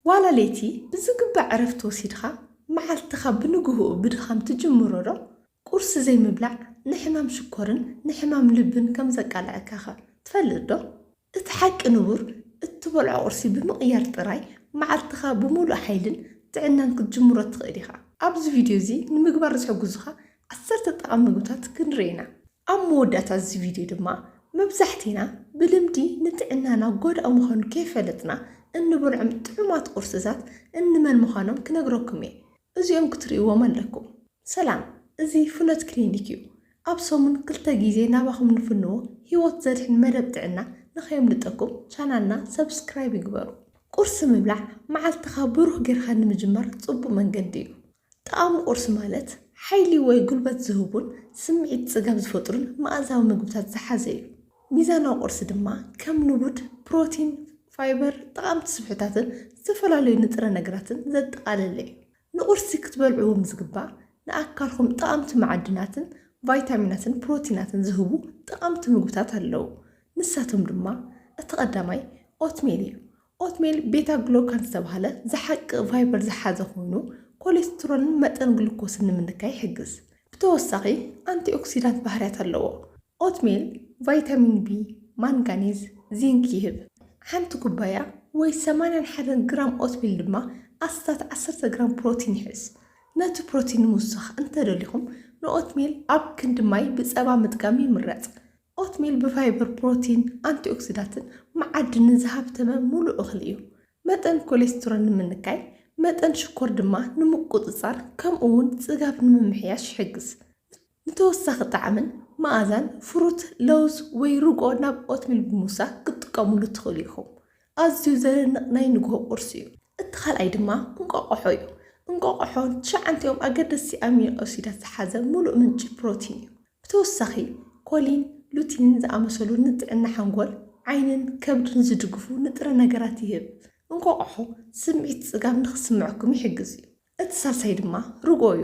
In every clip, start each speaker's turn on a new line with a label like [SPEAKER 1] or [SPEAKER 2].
[SPEAKER 1] ዋላ ለይቲ ብዝግባእ ዕረፍቲ ወሲድኻ መዓልትኻ ብንግህኡ ብድኻም ትጅምሮ'ዶ? ቁርሲ ዘይምብላዕ ንሕማም ሽኮርን ንሕማም ልብን ከም ዘቃልዐካ'ኸ ትፈልጥ'ዶ? እቲ ሓቂ ንቡር እትበልዖ ቁርሲ ብምቕያር ጥራይ መዓልትኻ ብምሉእ ሓይልን ጥዕናን ክትጅምሮ ትኽእል ኢኻ። ኣብዚ ቪድዮ'ዚ ንምግባር ዝሕግዙኻ ዓሰርተ ጠቓሚ ምግብታት ክንርኢ ኢና። ኣብ መወዳእታ እዚ ቪድዮ ድማ፣ መብዛሕቲና ብልምዲ ንጥዕናና ጐዳኢ ምዃኑ ከይፈለጥና እንበልዖም ጥዑማት ቁርስታት እንመን ምዃኖም ክነግረኩም እየ። እዚኦም ክትርእይዎም ኣለኩም። ሰላም፣ እዚ ፍኖት ክሊኒክ እዩ። ኣብ ሰሙን ክልተ ግዜ ናባኹም ንፍንዎ ህይወት ዘድሕን መደብ ጥዕና ንኸየምልጠኩም ቻናልና ሰብስክራይብ ይግበሩ። ቁርሲ ምብላዕ መዓልትኻ ብሩህ ጌርካ ንምጅማር ጽቡቕ መንገዲ እዩ። ጣዕሚ ቁርሲ ማለት ሓይሊ ወይ ጉልበት ዝህቡን ስምዒት ጽጋብ ዝፈጥሩን መኣዛዊ መግብታት ዝሓዘ እዩ። ሚዛናዊ ቁርሲ ድማ ከም ንቡድ ፕሮቲን፣ ፋይበር፣ ጠቓምቲ ስብሕታትን ዝተፈላለዩ ንጥረ ነገራትን ዘጠቓለለ እዩ። ንቁርሲ ክትበልዕዎም ዝግባእ ንኣካልኩም ጠቓምቲ መዓድናትን ቫይታሚናትን ፕሮቲናትን ዝህቡ ጠቓምቲ ምግብታት ኣለዉ። ንሳቶም ድማ እቲ ቀዳማይ ኦትሜል እዩ። ኦትሜል ቤታ ግሎካን ዝተባህለ ዝሓቂ ፋይበር ዝሓዘ ኮይኑ፣ ኮሌስትሮልን መጠን ግሉኮስን ንምንካይ ይሕግዝ። ብተወሳኺ ኣንቲኦክሲዳንት ባህርያት ኣለዎ። ኦትሜል ቫይታሚን ቢ፣ ማንጋኒዝ፣ ዚንክ ይህብ። ሓንቲ ኩባያ ወይ ሰማንያን ሓደን ግራም ኦትሜል ድማ ኣስታት ዓሰርተ ግራም ፕሮቲን ይሕዝ። ነቲ ፕሮቲን ንምውሳኽ እንተደሊኹም ንኦትሜል ኣብ ክንዲ ማይ ብጸባ ምጥቃም ይምረጽ። ኦትሚል ብፋይበር፣ ፕሮቲን፣ ኣንቲኦክሲዳትን መዓድንን ዝሃብተመ ምሉእ እኽሊ እዩ። መጠን ኮሌስትሮል ንምንካይ፣ መጠን ሽኮር ድማ ንምቁጽጻር ከምኡ'ውን ጽጋብ ንምምሕያሽ ይሕግዝ። ንተወሳኺ ጣዕምን መኣዛን፣ ፍሩት፣ ለውዝ ወይ ርግኦ ናብ ኦትሚል ብምውሳኽ ክትጥቀሙሉ ትኽእሉ ኢኹም። ኣዝዩ ዘደንቕ ናይ ንግሆ ቁርሲ እዩ። እቲ ካልኣይ ድማ እንቋቋሖ እዩ። እንቋቋሖ ትሽዓንቲኦም ኣገደስቲ ኣሚኖ ኣሲዳት ዝሓዘ ምሉእ ምንጪ ፕሮቲን እዩ። ብተወሳኺ፣ ኮሊን ሉቲንን ዝኣመሰሉ ንጥዕና ሓንጎል፣ ዓይንን ከብድን ዝድግፉ ንጥረ ነገራት ይህብ። እንቋቝሖ ስምዒት ጽጋብ ንኽስምዐኩም ይሕግዝ እዩ፣ እቲ ሳልሳይ ድማ ርግኦ እዩ።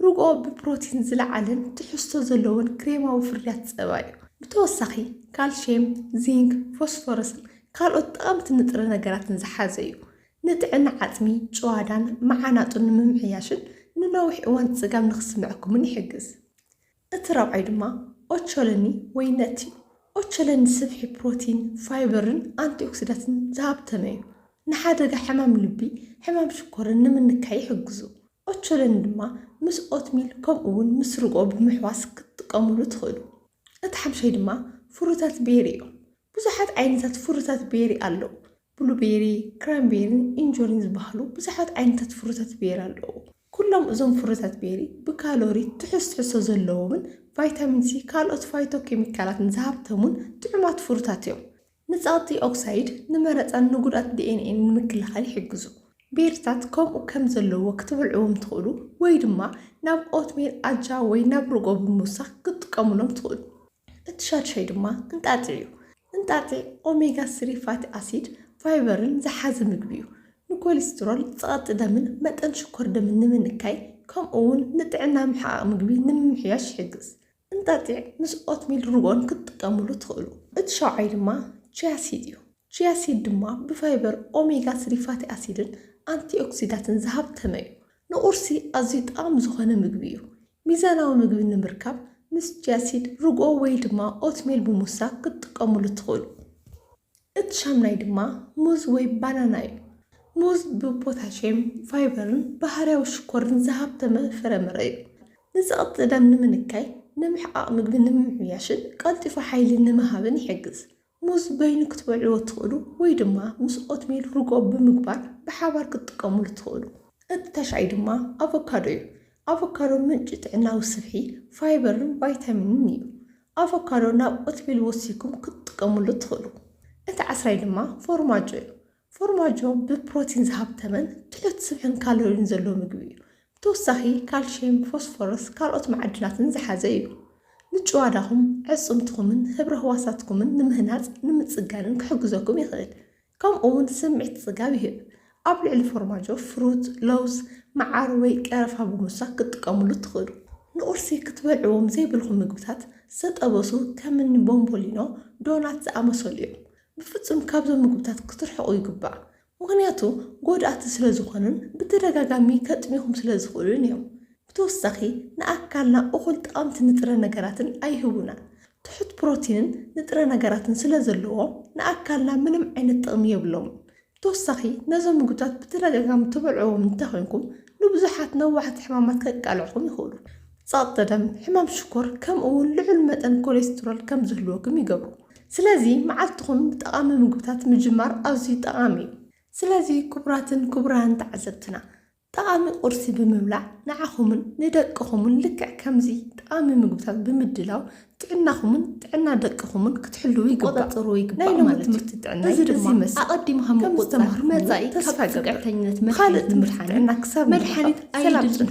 [SPEAKER 1] ርግኦ ብፕሮቲን ዝለዓለን ትሕዝቶ ዘለዎን ክሬማዊ ፍርያት ጸባ እዩ። ብተወሳኺ፣ ካልሽየም፣ ዚንክ፣ ፎስፎረስን ካልኦት ጠቐምቲ ንጥረ ነገራትን ዝሓዘ እዩ። ንጥዕና ዓጽሚ፣ ጭዋዳን መዓናጡን ንምምሕያሽን ንነዊሕ እዋን ጽጋብ ንኽስምዐኩምን ይሕግዝ። እቲ ራብዓይ ድማ ኦቾሎኒ ወይ ነት እዩ። ኦቾሎኒ ስብሒ ፕሮቲን፣ ፋይበርን ኣንቲኦክሲዳትን ዝሃብተመ እዩ። ንሓደጋ ሕማም ልቢ፣ ሕማም ሽኮርን ንምንካይ ይሕግዙ። ኦቾሎኒ ድማ ምስ ኦትሚል ከምኡ'ውን ምስ ርግኦ ብምሕዋስ ክትጥቀሙሉ ትኽእሉ። እቲ ሓምሻይ ድማ ፍሩታት ቤሪ እዮም። ብዙሓት ዓይነታት ፍሩታት ቤሪ ኣለዉ። ብሉቤሪ፣ ክራንቤሪን ኢንጆሪን ዝበሃሉ ብዙሓት ዓይነታት ፍሩታት ቤሪ ኣለዉ። ኩሎም እዞም ፍረታት ቤሪ ብካሎሪ ትሑዝ ትሕዝቶ ዘለዎምን ቫይታሚን ሲ ካልኦት ፋይቶ ኬሚካላትን ዝሃብተሙን ጥዑማት ፍሩታት እዮም። ንጸቕጢ ኦክሳይድ፣ ንመረጻን ንጉድኣት ዲኤንኤን ንምክልኻል ይሕግዙ። ቤሪታት ከምኡ ከም ዘለዎ ክትበልዕዎም ትኽእሉ ወይ ድማ ናብ ኦትሜል፣ ኣጃ ወይ ናብ ርጎ ብምውሳኽ ክትጥቀሙሎም ትኽእሉ። እቲ ሻድሻይ ድማ እንጣጢዕ እዩ። እንጣጢዕ ኦሜጋ ስሪ ፋቲ ኣሲድ፣ ፋይበርን ዝሓዘ ምግቢ እዩ። ንኮሊስትሮል፣ ጸቕጢ ደምን መጠን ሽኮር ደምን ንምንካይ ከምኡ'ውን ንጥዕና ምሕቓቕ ምግቢ ንምምሕያሽ ይሕግዝ። እንጣጢዕ ምስ ኦትሚል ርግኦን ክትጥቀሙሉ ትኽእሉ። እቲ ሻውዓይ ድማ ቺያ ሲድ እዩ። ቺያ ሲድ ድማ ብፋይበር፣ ኦሜጋ ስሪ ፋቲ ኣሲድን ኣንቲኦክሲዳትን ዝሃብተመ እዩ። ንቁርሲ ኣዝዩ ጠቓሚ ዝኾነ ምግቢ እዩ። ሚዛናዊ ምግቢ ንምርካብ ምስ ቺያሲድ፣ ርግኦ ወይ ድማ ኦትሜል ብምውሳኽ ክትጥቀሙሉ ትኽእሉ። እቲ ሻምናይ ድማ ሙዝ ወይ ባናና እዩ። ሙዝ ብፖታሽየም፣ ፋይበርን ባህርያዊ ሽኮርን ዝሃብተመ ፍረምረ እዩ። ንጸቕጢ ደም ንምንካይ፣ ንምሕቓቕ ምግቢ ንምምሕያሽን ቀልጢፉ ሓይሊ ንምሃብን ይሕግዝ። ሙዝ በይኑ ክትበልዕዎ ትኽእሉ ወይ ድማ ምስ ኦትሚል ርጎ ብምግባር ብሓባር ክትጥቀምሉ ትኽእሉ። እቲ ተሻይ ድማ ኣቮካዶ እዩ። ኣቮካዶ ምንጪ ጥዕናዊ ስብሒ፣ ፋይበርን ቫይታሚንን እዩ። ኣቮካዶ ናብ ኦትሚል ወሲኩም ክትጥቀምሉ ትኽእሉ። እቲ ዓስራይ ድማ ፎርማጆ እዩ። ፎርማጆ ብፕሮቲን ዝሃብተመን ድሕት ስብሕን ካሎሪን ዘለዎ ምግቢ እዩ። ብተወሳኺ ካልሽየም፣ ፎስፎረስ፣ ካልኦት መዓድናትን ዝሓዘ እዩ። ምጭዋዳኹም፣ ኣዕጽምትኹምን ህብረ ህዋሳትኩምን ንምህናጽ ንምጽጋንን ክሕግዘኩም ይኽእል። ከምኡውን ስምዒት ጽጋብ ይህብ። ኣብ ልዕሊ ፎርማጆ ፍሩት፣ ለውዝ፣ መዓር ወይ ቀረፋ ብምውሳኽ ክትጥቀምሉ ትኽእሉ። ንቁርሲ ክትበልዕዎም ዘይብልኩም ምግብታት ዝተጠበሱ ከም እኒ ቦምቦሊኖ፣ ዶናት ዝኣመሰሉ እዮም። ብፍጹም ካብዞም ምግብታት ክትርሕቑ ይግባእ፣ ምኽንያቱ ጎዳእቲ ስለ ዝኾኑን ብተደጋጋሚ ከጥምዩኹም ስለ ዝኽእሉን እዮም። ብተወሳኺ ንኣካልና እኹል ጠቐምቲ ንጥረ ነገራትን ኣይህቡናን። ትሑት ፕሮቲንን ንጥረ ነገራትን ስለ ዘለዎም ንኣካልና ምንም ዓይነት ጥቕሚ የብሎምን። ብተወሳኺ ነዞም ምግብታት ብተደጋጋሚ ትበልዕዎም እንተኾይንኩም ንብዙሓት ነዋሕቲ ሕማማት ከቃልዕኹም ይኽእሉ። ጸቕጢ ደም፣ ሕማም ሽኮር፣ ከምኡ'ውን ልዑል መጠን ኮሌስትሮል ከም ዝህልወኩም ይገብሩ። ስለዚ መዓልትኹም ብጠቓሚ ምግብታት ምጅማር ኣዝዩ ጠቓሚ እዩ። ስለዚ ክቡራትን ክቡራንን ተዓዘብትና፣ ጠቓሚ ቁርሲ ብምብላዕ ንዓኹምን ንደቅኹምን ልክዕ ከምዚ ጠቓሚ ምግብታት ብምድላው ጥዕናኹምን ጥዕና ደቅኹምን ክትሕልዉ ይግባእ። ክቆጻጸርዎ ይግባእ ናይ ሎሚ ማለት እዩ። ትምህርቲ ጥዕናይ እዚ በዚ ድማ ይመስል። ኣቐዲምካ ከም ምቁጽጻር ዝተማህርኩሞ መጻኢ ተስፋ ካብ ይገብር። ጽግዕተኝነት መድሓኒት ብኻልእ ትምህርቲ ንምድሓን ጥዕና ክሳብ ንራኸብ መድሓኒት ሰላም ኣየድልን ጽንሑ።